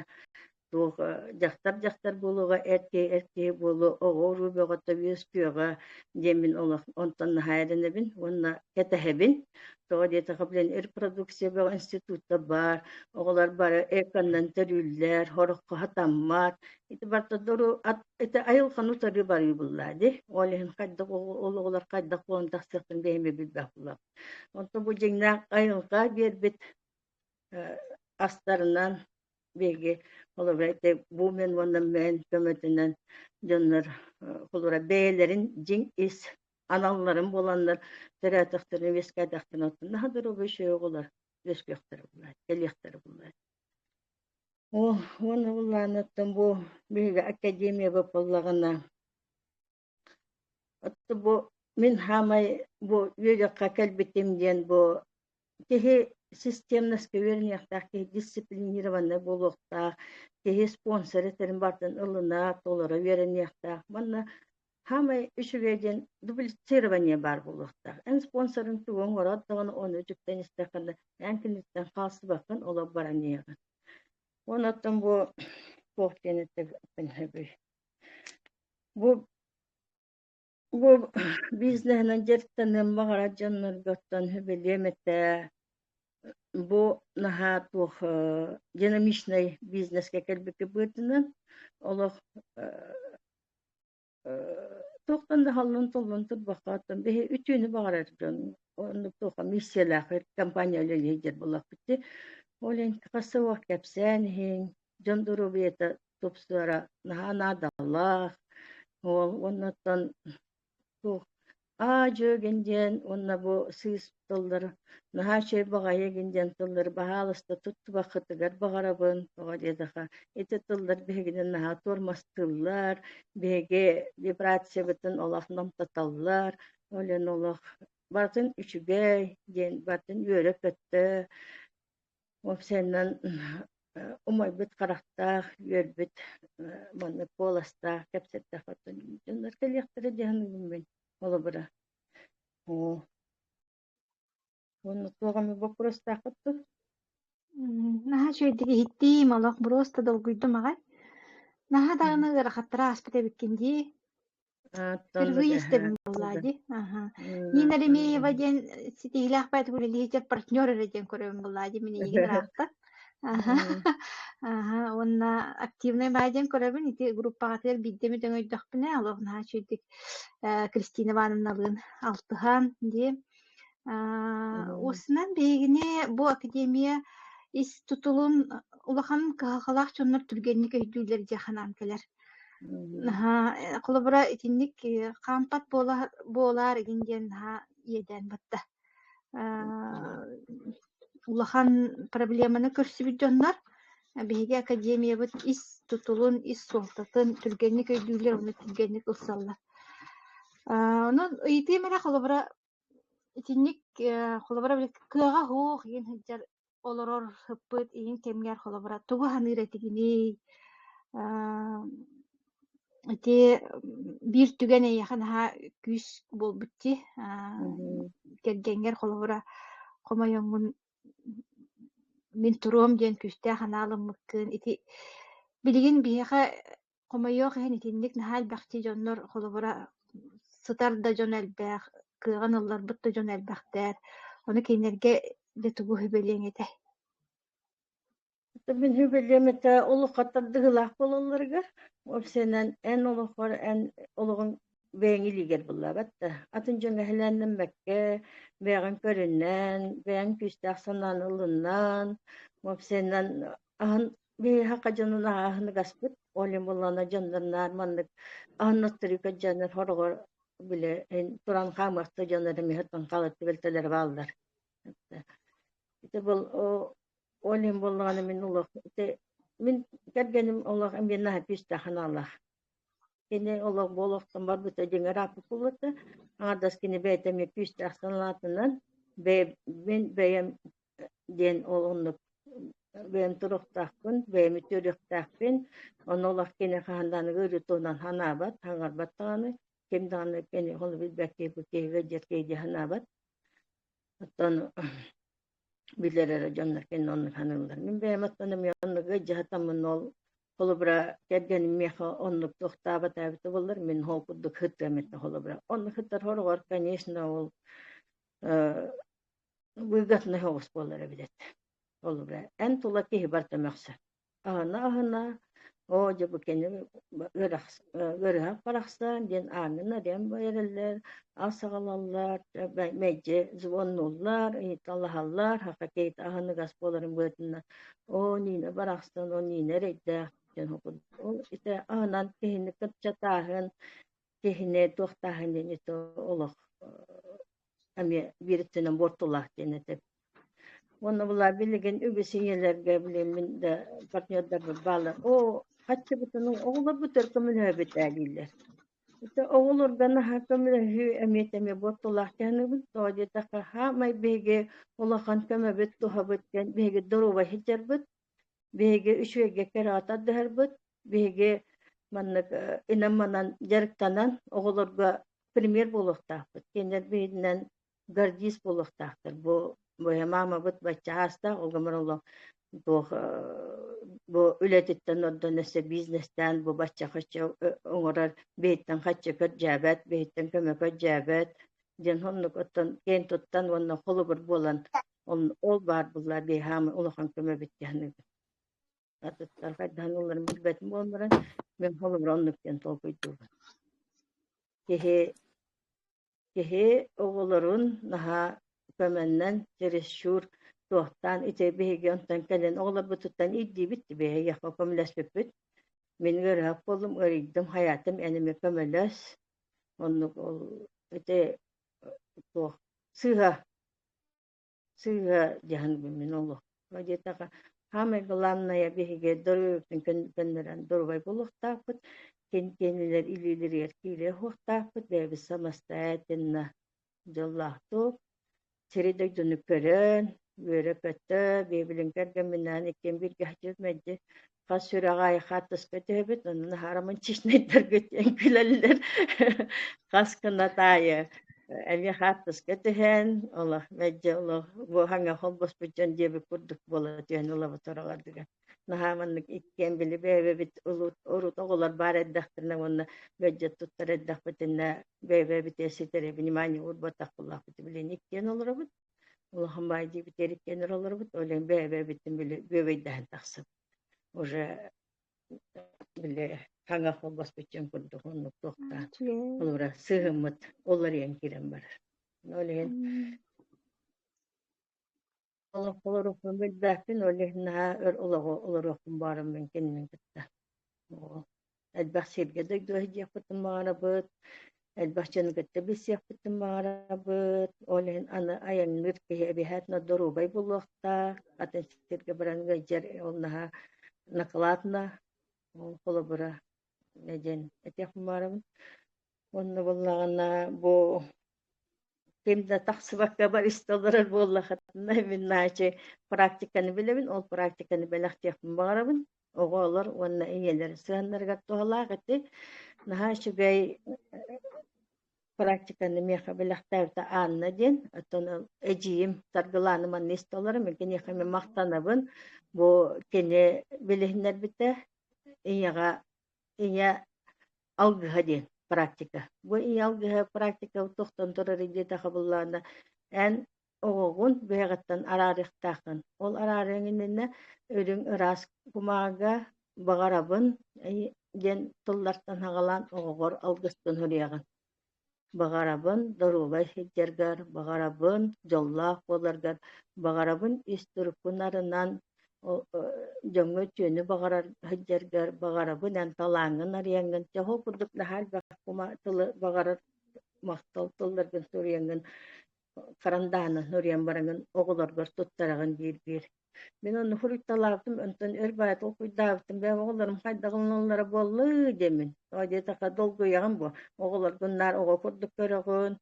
туох э, дьахтар дьахтар буолуоҕа, эр киһи эр киһи буолуо, оҕо-уруу бөҕөтө үөскүөҕэ диэмин олох онтон наһаа эрэнэбин уонна кэтэһэбин. Тоҕо диэтэххэ билэн эр продукция бөҕө институтта баар, оҕолор бары эконнан төрүүллэр, хороххо хатаммат, ити бартодору ат ити айылханы утары барыы буллаа ди ол иһин хайдах ол оҕолор хайдах буолан тахсыахтын дэһимэ билбэх була онто бу дьиҥнээх айылҕа биэрбит астарынан биһиги холобура ити бу мен уонна мен көмөтүнэн дьоннор холобура бэйэлэрин дьиҥ ис аналларын буоланнар төрөөтөхтөрүн үөскээтэхтэрин оттон наһаа дорогой шөй оҕолор үөскүөхтэрэ буллаа кэлиэхтэрэ буллаа Оо, уонна Уллааныттан бу биһиги академия буоллаҕына отто бу мин хаамай бу үөдүөххэ кэлбитим диэн бу киһи системноска үөрэниэхтээх киһи дисциплинированнай буолуохтаах киһи спонсор этэрин барытын ылына толоро үөрэниэхтээх манна саамай үчүгэй диэн дублицирование баар буолуохтаах эн спонсорын тугу оҥороот даҕаны ону үтүктэн истэххэ да эн киниттэн хаалсыбаккын олох баран иһиэҕин уон оттон бу туох диэн эттэхпин сөбүй бу бу бизнеһинэн дьарыктаныан баҕарар дьоннорго оттон сөбүлүөм этэ бу наһаа туох динамичнай бизнескэ кэлбиккэ быытынан олох Туохтан да халлын-туллун турбахтаатым. Биһи үтүөнү баҕарар дьон оннук туохха миссиялаах компания үлэлиһи диэн буоллахпыт дии. Ол иһин хас да уол кэпсээн иһин, дьон доруобуйата тупсара наһаа наадалаах. Уол уонна оттон аа-дьүөгин диэн уонна бу сыыс тыллары наһаа үчүгэй баҕайыгын диэн тыллары баһаалыста туттубаккытыгар баҕарабын тоҕо диэтэхэ ити тыллар биһигини наһаа туормастыыллар биһиги вибрациябытын олох номтотоллор ол ин олох барытын үчүгэй диэн барытын үөрэ-көтө Вовсеннан умайбыт харахтаах, үөрбүт маннык куоластаах кэпсэттээх дьоннор кэлиэхтэрэ диэн мин холобура. Оо, онно туох эмэ боппуруостааххыт дуу? наһаа үчүгэйдик иһиттим, олох буруоста долгуйдум аҕай. Наһаа даҕаны ыарахаттары ааспыт эбиккин дии. Впервые с тобой на Ладе. Нина Ремеева диэн ситиһиилээхпэт үлэлиһиччэр партнер эрэ диэн көрөбүн Ладе мин эйигин ыраатта. Уонна активнай баай диэн көрөбүн ити группаҕатыгар биирдэ эмит өҥөйдөхпүнэ аловнаһа чүйдик Кристина Ивановналыын алтыһан дии Осынан биһигини бу академия ис тутулун улахан кыһалҕалаах дьоннор түргэнник өйдүүллэр дии санаан кэлэр. Наһаа холобура итинник хаампат буола буолаар игин диэн наһаа иэдээн батта. Аа улахан проблеманы көрсүбүт дьоннор биһиги академиябыт ис тутулун, ис суолтатын түргэнник өйдүүлэр уонна түргэнник ылсаллар. Аа онон ыйытыым эрэ холобура Итинник холобура кыаҕа суох иин сылдьар олорор сыппыт иин кэмигэр холобура тугу саныыр этигиний? Ааа ити биир түгэн эйиэхэ наһаа күүс буолбут дии. Мм. Кэргэҥҥэр холобура хомойуҥҥун мин туруом диэн күүстээх анаал ыммыккын. Ити билигин биһиэхэ Хомойуох иһин итинник наһаа элбэхтии дьоннор холобура сытар да дьон элбэх, кыаҕын ылларбыт да дьон элбэхтэр. Ону кинилэргэ дьэ тугу сүбэлиэҥ этэй? Мин сүбэлиэм этэ олох хаттардыһыылаах буолалларыгар, уопсайынан эн олоххор эн олоҕуҥ бэйэҥ илиигэр буллаабат да, атын дьон сэһэлээннэммэккэ, бэйэҕин көрүннэн, бэйэҥ күүстээх санааны ылыннан, уопсайынан Аһын биһиэхэ дьонун ааһыны гаспыт, ол им буллана дьоннорнаар маннык аннотторика дьоннор хороҕор били ин туран хаамыахта дьоннор эмиһэттэн хаалытты бэлтэлэри бааллар. Ити был о ол им буллаҕына мин олох ити мин кэргэним олох эмиэ наһаа күүстээх аналлаах Кини олох буолохтон барбыта дьиҥэр ааппыкубата. Аҥардас кини бэйэтэ эмиэ күүстээх санаатынан бэйэм бэйэм диэн ол оннук бэйэм туруктаахпын, бэйэм үтүөрүөхтээхпин. Онно олох кини хаһанданыга өрүү туһунан санаабат, хаҥарбат даҕаны, ким даҕаны кини ол билбэт киһи киһигэ диэт киһи санаабат. Оттон билэр эрэ дьонно кэннэ онно саныыллар мин бэйэм оттон эмиэ оннук дьаһатаммын ол холобура кэргэним миэхэ оннук туохтаабат эбитэ буоллар мин ол курдук сытыам этэ холобура онно сытархороҕор конечно ол выгодный соҕус буолара эбит этэ холобура эн тула киһи барыта мөхсө Аана-аһына «Оо, дьэ бу кини ырыһах барахсан» диэн аанын-арыйан эрэллэр, ас аҕалаллар, мэлдьи звоннуллар, ыйыталаһаллар, хахатиэйт аһыныгас буоларын быһыытынан «Оо, Нина барахсан, о Нина эрэйдээх» диэн ол ити аһынан киһини кырчатааһын, киһини туохтааһын диэни олох эмиэ биир өттүнэн буортулаах диэн этэ уонна була билигин үгүс ийэлэргэ билим мин да партнердарбар баалар оо хаччыбытынын оҕолорбутугар көмөлөһөбүтэ дииллэр ити оҕолорго наһаа көмөлөһүү эмиэ эмиэ буортулаах диэнибит тоҕо диэтэххэ хаамай биһиги улахан көмөбүт туһабыт диэн биһиги доруобай сылдьарбыт Биһиги үчүгэйгэ кыраатан дыһарбыт, биһиги маннык инам-манан дьарыктанан оҕолорго пример буолуохтаахпыт, кинилэр биһигинэн гордист буолуохтаахтар. Бу моя мамабыт баччаастаах угомороло туох бу үлэтиттэн ордон өссө бизнестään бу бачча хоччу оҥорор биһиттэн хаччы көрдьөөбөт, биһиттэн көмө көрдьөөбөт диэн оннук оттон киэн туттан уонна холобур буолан Ол, ол баар буоллар биэһаамы улахан көмө биттэһэн атыттар хайдаһан ылларын билбэтим буолларан мен холобура оннук диэн толкуйдуубун киһи киһи оҕолорун наһаа көмөннөн чересчур туохтаан ити биһиги онтон кэлэн оҕолорбутуттан ирдиибит биһиги яхқа көмөлөспүппүт мин ыарыһах буоллум ыарыйдым хайаатым эниме көмөлөс оннук ол ити туох сыыһа Сыыһа дьаһан мин олоххо диэтэхэ саамай главная биһиги доруобуйабытын көннөрөн доруобай буолуохтаахпыт, кэнтиэнилэр илиилэригэр киирэ иһуохтаахпыт, бэйэбит самостоятельно дьоллоохтук сири-дойдуну көрөн, үөрэ-көтө, биһи билин кэргэмминээн иккиэн бииргэ садьык-мэлдьи хас сүрэҕэ хаартыска түһэбит онон хармончичнайдарга диэн күлэллэр хас кынат аайы эмиэ хаартыска түһээн олох мэлдьи олох бу хаҥа холбоспут дьон диэбит курдук буола түһэн ылабыт ороҕордугар наһаа маннык иккиэн били бэйэбэбит урут оҕолор баар эрдэхтэринэ уонна мөлдьө туттар эрдэхпитинэ бэйэбэбит ситэри внимание уурбатах буллахпыт билин иккиэн олоробут Улахан баай диэбит эриккэн олорбут, ол иһин бэйэ-бэйэбиттэн били бүөбэйдэһэн тахсыбыт. Уже били хаҥа холбоспуччун курдук оннук туохтаан олора сыһыммыт уларыйан киирэн барар. Ол иһин олохпун билбэппин, ол иһин наһаа өр олоҕу олоруохпун баарын мин кинини кытта элбэх сиргэ дойдулаһы диэхпитин баҕарабыт, элбэх дьону кытта билсиэхпитин баҕарабыт. Ол иһин аны айанныыр киһи эбиһээтинэ доруобай буолуохтаах. Атын сиргэ баран ыалдьар ол наһаа накладно. Ол холобура диэн этиэх бумаарабын. Уонна буоллаҕына бу ким да тахсыбакка барыста олорор буоллахытына мин наачы практиканы билэбин ол практиканы бэлэхтиэхпин баҕарабын оҕолор уонна ийэлэр сыаннарыгар туһалаах ити наһаа үчүгэй практиканы миэхэ бэлэхтээбитэ Анна диэн оттон эдьиийим Саргылаана манна истэ олором киниэхэ мин махтанабын бу кини билиһиннэрбитэ ийэҕэ ийэ алгыһа диэн практика. Бу ийэ алгыһа практика тохтон турарый диэтэ хабыллаана эн оҕоҕун бэйэҕиттэн араарыахтааххын. Ол араарыаҥыннэнэ үрүҥ ыраас кумааҕа баҕарабын диэн тыллартан хаҕалаан оҕоҕор алгыстан суруйаҕын Баҕарабын доруобай сылдьаргар, баҕарабын дьоллоох буоларгар, баҕарабын ис турукпун арынан дьоҥҥо үтүөнү баҕарар сылдьаргар, баҕарабын эн талааҥҥын арыйаҥҥын, чоһу курдук наһаа элбэх тылы баҕарар махтал тылларгын суруйаҥҥын харандааны нуриан бараҥын оҕолоргор туттараҕын диир-биир мин онно фрукталаабытым онтон өр баай толкуйдаабытым бэйэм оҕолорум хайдаҕыллаллара буоллу диэмин оо диэтахха долгуйаҕын буо оҕолоргун наар оҕо курдук көрөҕүн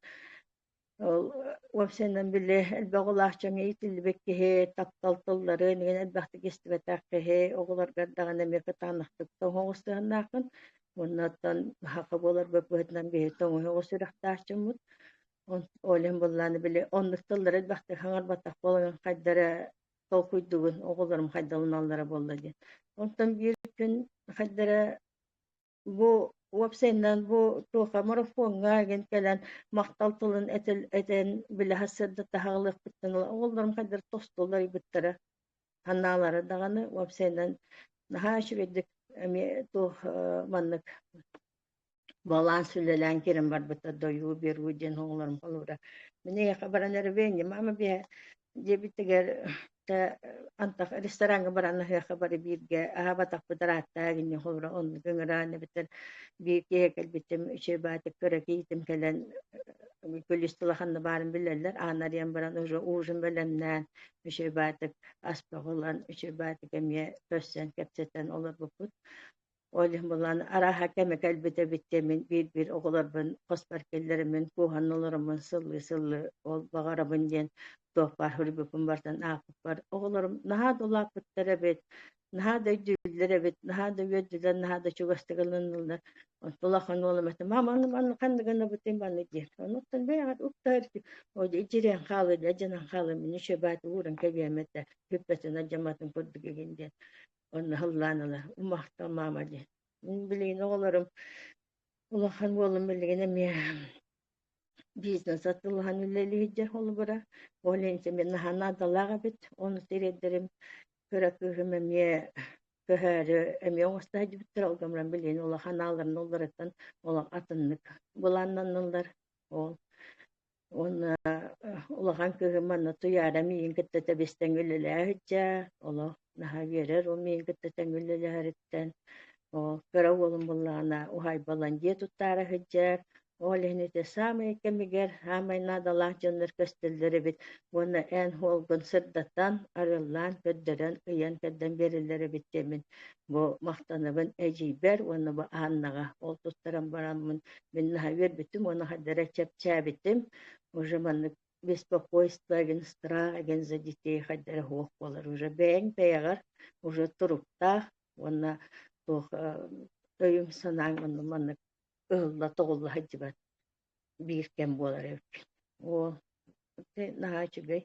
ол уопсайынан били элбэх улаах дьоҥҥо иитиллибит киһи таптал тылларын иһин элбэхтик истибэтэх киһи оҕолоргор даҕаны эмиэ кытаанахтык тоҥоҕос сыһаннааххын оннуттан саха буолар быһыытынан киһи тоҥуһа оҕо сүрэхтээх дьоммут Олен быллааны били оннук тыллары элбэхтик хаҥарбатах буолан хайдара толкуйдугун, оҕолорум хайдаланаллара буолла диэн. Онтон биир күн хайдара бу уопсайынан бу туоха марафоҥҥа ген кэлэн махтал тылын этил этэн билэһэ сырда таһаҕалыахпыттан ыла оҕолорум хайдары тостулар ыйбыттара санаалара даҕаны уопсайынан наһаа үчүгэйдик эмиэ туох маннык Буолаан сүлэлээн киирэн барбыта дойуу беру диэн оҕолорум холуура. Мин эйиэхэ баран эрбээнньэ маама биэһэ диэбиттигэр тэ антах рестораҥҥа баран аһыахха бары бииргэ аһаабатахпыт арааттаа гинньэ холуура онно көҥүрээн эбиттэр биир киһи кэлбиттим үчүгэй баатык көрө киитим кэлэн күлүс тыла ханна баарын билэллэр аан арыйан баран уже ужин бэлэмнээн үчүгэй баатык ас тоҕулан үчүгэй баатык эмиэ көрсөн кэпсэтэн олорбуппут Ол иһин булан арааһа кэмэ кэлбитэ эбиттэ мин биир-биир оҕолорбун хоспор киллэриммин кууһан олороммун сыллыы-сыллыы ол баҕарабын диэн туохпаах үргүкпүн барытын аахпыппар оҕолорум наһаа да улааппыттар эбит, наһаа да өйдүүллэр эбит, наһаа да үөрдүлэр, наһаа да чугастык ылыннылар. Онтон улахан уолум этэ мама аны манна ханнык гынабытый манна диэн. Онуттан бэйэҕит уктар итирэн хаалыыга дьанан хаалыым мин үчүгэйбээт ууран кэбиэм этэ, күппэтин алдьамматын курдук игин диэн. Онно сыллаан ыла умахтал маама диэн. Мин билигин оҕолорум улахан буолан билигин эмиэ бизнес атылаһан үлэлиирдэ холобура. Ол иһин мин наһаа наадалаах эбит. Ону тириэрдэрим кыра кыыһым эмиэ көһөөрү эмиэ оҥосто сылдьыбыттар. Ол гомром билигин улахан ааларын уларыттан олох атыннык былааннанналлар. Ол Уонна улахан кыыһым манна Туйаара миигин кытта тэбистэн үлэлээһиччэ, олох наһаа үөрэр, ол миигин кытта тэҥҥэ үлэлэһэриттэн. Оо, кыра уолум буоллаҕына уһаайбалан дьиэ туттаара сылдьар. Ол иһин ити саамай кэмигэр саамай наадалаах дьоннор көстөллөр эбит уонна эн-хоолгун сырдатан, арыллаан, көрдөрөн, ыйан-кэрдэн биэрэллэр эбит кэмин. бу махтанабын эдьиийбэр уонна бу Аннаҕа ол туттаран бараммын мин наһаа үөрбүттүм уонна хайдара чэпчээбитим уже маннык беспокойство деген страх деген за детей хайдара суох буолар уже бэйэҥ бэйэҕэр уже туруктаах уонна туох өйүҥ санааҥ онно маннык ыһылла тоҕулла сылдьыбат биир кэм буолар эбиппин. Оо, наһаа үчүгэй.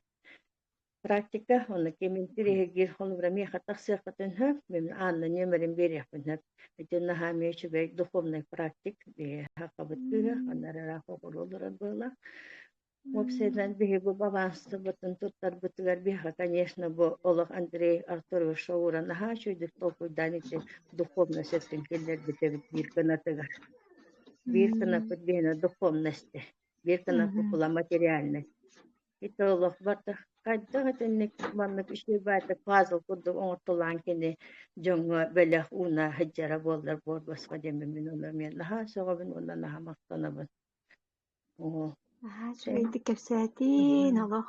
Практика уонна кимин тириһигир холобура миэхэ тахсыаххытын сөп, мен аанна нөмөрүн биэриэхпин сөп. Итин наһаа эмиэ үчүгэй духовнай практик биһиэхабыт кыыһа анарара хоҕуруолурар буола. Уопсайынан биһиги бабаанстыбытын туттарбытыгар биһиэхэ, конечно, бу олох Андрей Артурович Шаура наһаа үчүгүйдүк толкуйдаан ити духовнай сеттин киллэрбит эбит биир гынатыгар. биир кынаппыт биһинэ духуомна истэ биир кынаппыт кула материальнай ити олохбор да хайдах итинник маннык ишиэ баайда пазл курдук оҥортулаан кини дьоҥҥо бэлэх ууна сылдьара буоллар буорбасха дэммимин олор миэн наһаа сөҕөбүн уонна наһаа махтанабын оо наһаа үчүгэйдик кэпсээтин олох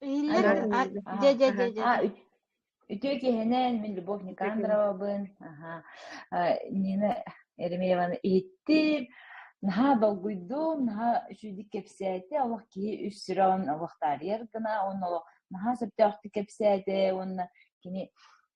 Биллэр дьэ дьэ дьэ дьэ Үтүө киһинэн, мин Любовь Никандровабын, Нина Еремееваны иһиттим. Наһаа долгуйдум, наһаа үчүгэйдик кэпсээтэ, олох киһи үс сирон олох таарыйар гына, уонна олох наһаа сөптөөхтүк кэпсээтэ, уонна кини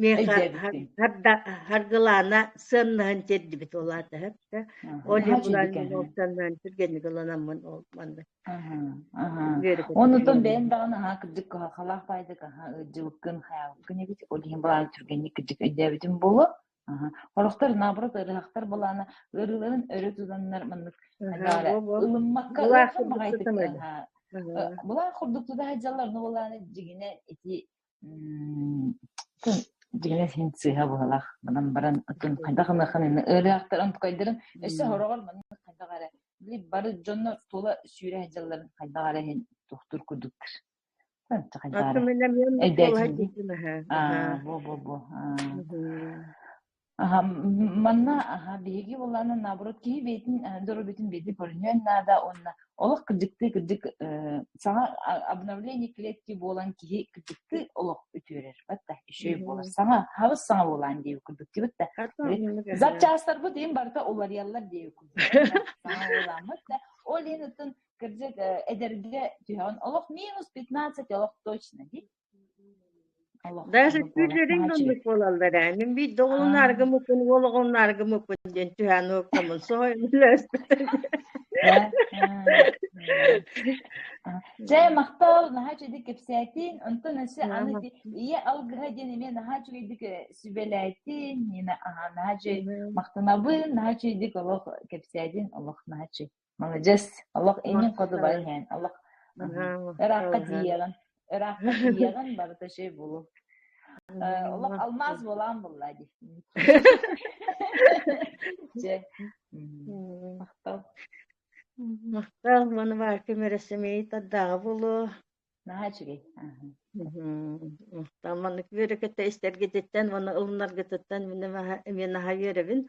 миэхэ харда харгылаана сыаннаһын тиэрдибит улаатаһыт ол мустаннан түргэнник ыланаммын ол манна онутун бэйэн даҕаны аhaa кырдык кахалаах баайдык аха ыддьыбыккын хаялыккын эбит ол иһин былаан түргэнник кырдык өйдөөбүтүм болу Хорохтор наоборот ырыһахтар былаана ырыларын өрө тутаннар маннык ылыммакка ылаах курдук тутана былаан курдук тутаһа дьаллар ну былаана дигине ити Дьиҥинэ син сыыһа быһылах. Манан баран атын хайдах гыныахын инна ырыахтарын тукайдарын өссө хороҕор маннык хайдах эрэ били бары дьоннор тула сүүрэ сылдьалларын хайдах эрэ иһин тухтур курдуктар. Атын эмиэ эйдээкин. Бо бо бо. Аха, манна аха биһиги буоллаана наоборот киһи бэйэтин доруобуйатын бэйэтин көрүнүөн наада уонна олох кырдьыктыы кырдьык саҥа обновление клетки буолан киһи кырдьыктыы олох үтүөрэр батта үчүгэй буолар саҥа хабыс саҥа буолаан диэби курдук дибитте запчастарбыт им барыта уларыяллар диэби курдук саҥа буоламмыт да ол иһин оттон кырдьык эдэргэ түһэҕин олох минус пятнадцать олох точно ди Даже сүрдэрин гыннык буолаллар ээ. Мин биирдэ оҕолунаарга муккун, уол оҕолунаарга муккун диэн түһээн уоктамын соһойон өлөөспүтүм. Дьэ, махтал, наһаа үчүгэйдик кэпсээтин. Онтон өссө аны ийэ алгыһа диэн эмиэ наһаа үчүгэйдик сүбэлээтин. Нина, наһаа үчүгэй махтанабын, наһаа үчүгэйдик олох кэпсээтин, олох наһаа үчүгэй. маладьыас олох инин кодубай хэн олох ыраахха тиийэҕин ыраахха тиийэҕин барыта şey болу олох алмаз болаан болла ди же махтал махтал маны бар кім өрөсөмей таддағы болу Наһаа үчүгэй. Махтаан маннык үөрөкөтө истэргититтэн уонна ылыннаргытыттан мен аха үөрөбүн.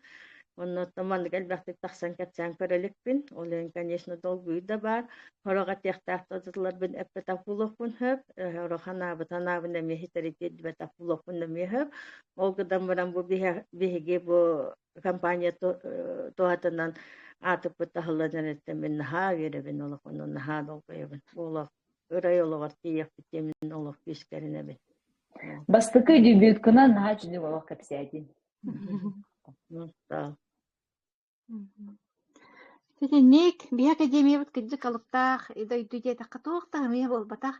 Оннуттан маннык элбэхтик тахсан кэпсээн көрөлүкпүн. Ол иһин, конечно, долгуйуу да баар. Хороҕо тиэхтээх тотуларбын эппэтапулоппун хөп. Хороҕо анаабыт анаабын эмиэ хитэритиэрдибэтапулоппун эмиэ хөп. Ол гыдан баран бу биһиги бу компания туһатынан аатыппыт таһыллан эрэттэн мин наһаа үөрэбин олох ону наһаа долгуйабын олох ырай олоҕор тиийэхпит мин олох күүскэринэбин бастакы дебюткынан наһаа үчүгэй олох кэпсээтин Сэтинньик, биһи академиябыт кырдьык алыптаах, дойду диэтэххэ туох да эмиэ буолбатах,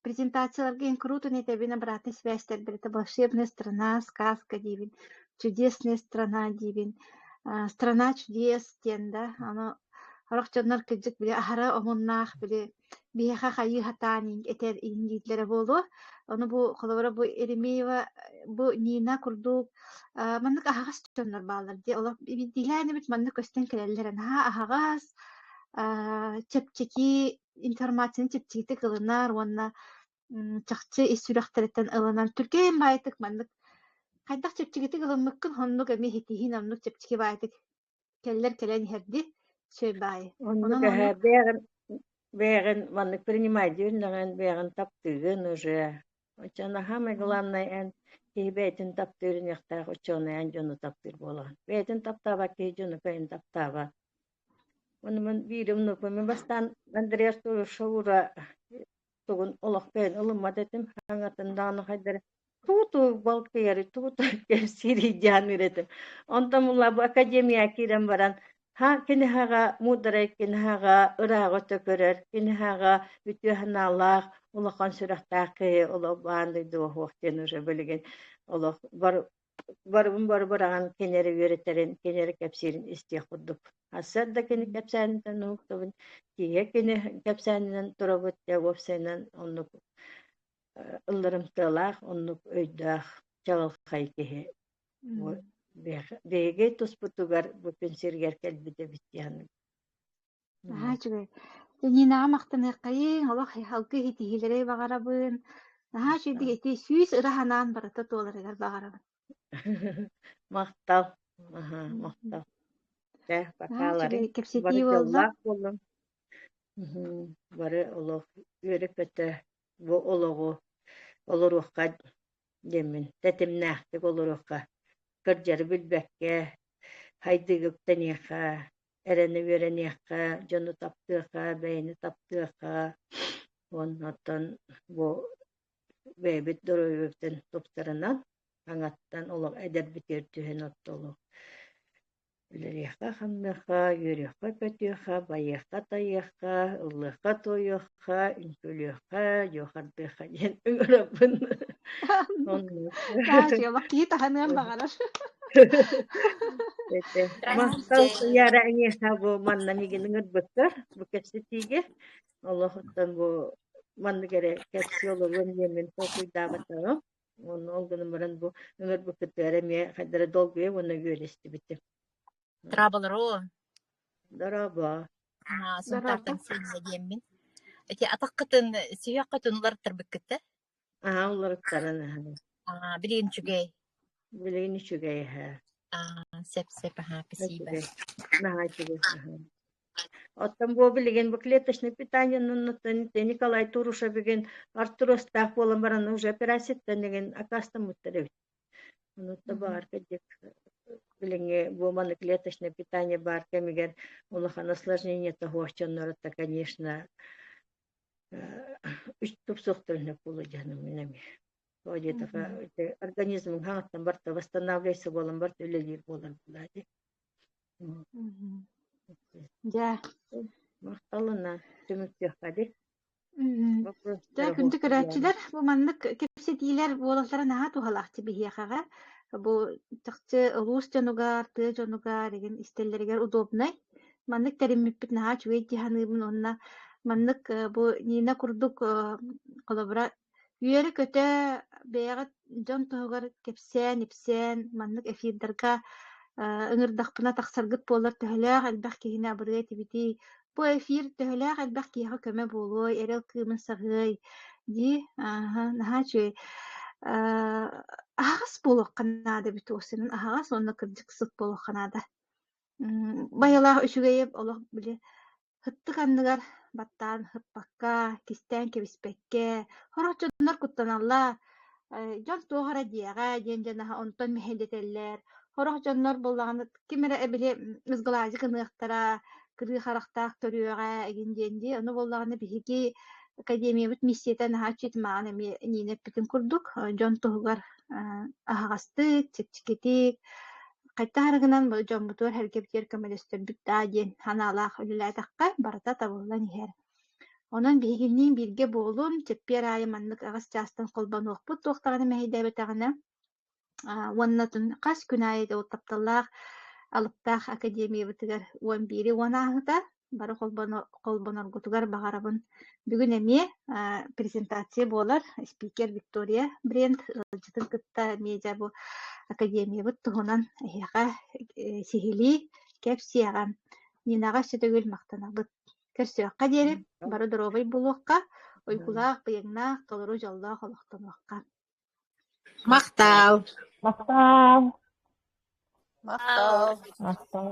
презентацияларга инкрутун-итэбин обратной связьтэрбит это «Волшебная страна», «Сказка» диибин, «Чудесная страна» диибин, «Страна чудес» диэн да, аны сорох дьоннор кырдьык били аһара омуннаах били биһиэхэ хайыы сатаан этэр иһитиннииллэрэ буолуо. Ону бу холобура бу Еремеева, бу Нина курдук маннык аһаҕас дьоннор бааллар дии. Олох биирдиилээн эбит маннык көстөн кэлэллэрэ. Наһаа аһаҕас, чэпчэки информацияны чэпчэкитик ылынар уонна чахчы ис сүрэхтэриттэн ылынан түргэн баайытык маннык хайдах чэпчэкитик ылыммыккын оннук эмиэ ситиһиин оннук чэпчэки баайытык Кэллэр кэлэн иһэрди, сөйбаай. Оннук Онон бэйэҕин бэйэҕин маннык принимать дииринэҕин бэйэҕин таптыыгын уже оччо наһаамай главное эн киһи бэйэтин таптыыр иниэхтээх ученый эн дьону таптыыр буолаҕын бэйэтин таптаабат киһи дьону бэйэтин таптаабат ону мин биир умнукпун мин бастаан Андреас Шаура тугун олох бэйэн ылыммат этим аҥатын даҕаны хайдары туу-туу балк кыйары туу-туу сирийдиэн үрэтим онтон мула бу академияҕа киирэн баран ха киниһаҕа муударай киниһаҕа ырааҕы төкөрөр киниһаҕа үтүө санаалаах улахан сүрэхтээх киһи олох баан дойду оһуох диэн уже билигин олох бар барыбын бары быраҕан кинилэри үөрэтэрин, кинилэри кэпсиирин истиэх курдук. Сарда кини кэпсээниттэн уһуктабын, тииһэ кини кэпсээнинэн турабыт, Тяговцайынан оннук ылларымтыалаах, оннук өйдөөх, чаҕылхай киһи. Биһиги туспутугар бу күн сиригэр кэлбит эбит дии Наһаа үчүгэй. Нинаҕа махтаныаххайыҥ, олох алгы иһитиһиилэри баҕарабын. Наһаа үчүгэй ити сүүс ыра санаан барыта туоларыгар баҕарабын. Махтал. Аһа, махтал. Дьэ, Наһаа үчүгэй. батааларыҥ Кэпсэтии бары буолла. тыллаах буоллун. Мгм. Бары олох үөрэ-көтө бу олоҕу олоруохха диэммин тэтимнээхтик олоруохха. Кырдьары билбэккэ, сайдыыга үктэниэххэ. эрэни үөрэниэххэ, дьону таптыахха, бэйэни таптыахха. Оннуттан бу бэйэбит доруобуйабытын тупсарынан аҥаттан олох эдэрбитигэр түһэн оттолу үлэлиэххэ-хамныахха, үөрүөххэ-көтүөххэ, байыахха-тайыахха, ыллыахха-туойуохха, ха үҥкүлүөххэ дьуохардыахха диэн ыҥырабын Таас уйалар киһи таһыныан баҕарар махтал сыйара эҥиэхэ бу манна мигин ыҥырбыттар бу кэпсэтиигэ олохуттан бу маннык эрэ кэпсии олоруон диэмин толкуйдаабатаҕым онно ол гынан баран бу ыҥырбыккыттыгар эмиэ хайдара долгуйа уонна үөлэстибитим Драабалароо, Дорообо. аа, Дорообо. Сунтаартан сиэннэ диэммин. Ити атаххытын, сүһүөххүтүн уларыттарбыккыт да? Аа, уларыттаран аһан. Аа, билигин үчүгэй. Билигин үчүгэй эһэ. Аа, сеп-сеп, аһаа, спасибо. Үчүгэй. Наһаа үчүгэй аһан. Оттон бу билигин бу клеточный питание нуннуттан Николай Турушевигин Артуростаах буолан баран уже операцияттан деген акастамыттар эбит. Онута баарка диэк билиҥҥи бу маннык клеточное питание баар кэмигэр улахан осложнение тоһуоччонноро та, конечно, үч тупсуохтарын сөп буолуо дьаным мин эми Ол диэтаха организмҥ хаҥаттан барта восстанавливайся буолан барта үлэлиир буолар буолаа дии Дьэ, махталына түмүктүөххэ ди. Дьэ, күндү көрөөччүлэр, бу маннык кэпсэтиилэр буолаллара наһаа туһалаахтык биһиэхэҕэ. Бу чахчы улуус дьонугар, тыа дьонугар, игин истэллэригэр удобнай. Маннык тэриммиппит наһаа үчүгэй дии саныыбын уонна маннык бу Нина курдук холобура Үөрэ-көтө бэйэҕит дьон туһугар кэпсээн-ипсээн маннык эфирдарга ыҥырдахпына тахсаргыт буоллар төһөлөөх элбэх киһини абырыа этибитий, бу эфир төһөлөөх элбэх киһиэхэ көмө буолуой, эрэл кыымын саҕыай дии наһаа үчүгэй. Аһаҕас буолуохха наада эбит уосунан аһаҕас уонна кырдьык сыт буолуохха наада. Байалаах үчүгэйи олох били Ыттык анныгар баттаан ыппакка, кистээн кэбиспэккэ, «Сорох дьоннор куттаналлар, дьон туох эрэ диэҕэ» диэн дьон аһа онтон мэһэйдэтэллэр. Сорох дьоннор буоллаҕына ким эрэ били ызгылаадьы гыныахтара, кырыы харахтаах көрүөҕэ эҥин диэн дии. Ону буоллаҕына биһиги академиябыт миссията наһаа үчүгэй. Маҕан эмиэ Нина эппитин курдук, дьон туһугар аһаҕастык, чэпчэкитик, хайдах эрэ гынан бу дьоммутугар эргэбитигэр көмөлөстөрбүт даа диэн санаалаах үлэлээтэххэ барыта табыллан иһэр. Онон биһигинниин бииргэ буолун, чэппиэр аайы маннык аҕыс чаастан холбонуохпут туохтаҕына мэһэйдээбэтэҕинэ уонна хас күн аайы ол тапталлаах алыптаах академиябытыгар уон биири уон ааһыта бары холбоноргутугар баҕарабын бүгүн эмиэ презентация буолар спикер виктория брент ыалдьытын кытта медиа бу академиябыт туһунан эһиэхэ сиһилии кэпсиэҕэ нинаҕа өссө төгүл махтанабыт көрсүөххэ диэри бары доруобай булуохха уйгулаах быйаҥнаах толору дьоллоох олохтонуохха махтаал махтаал махтаал махтаал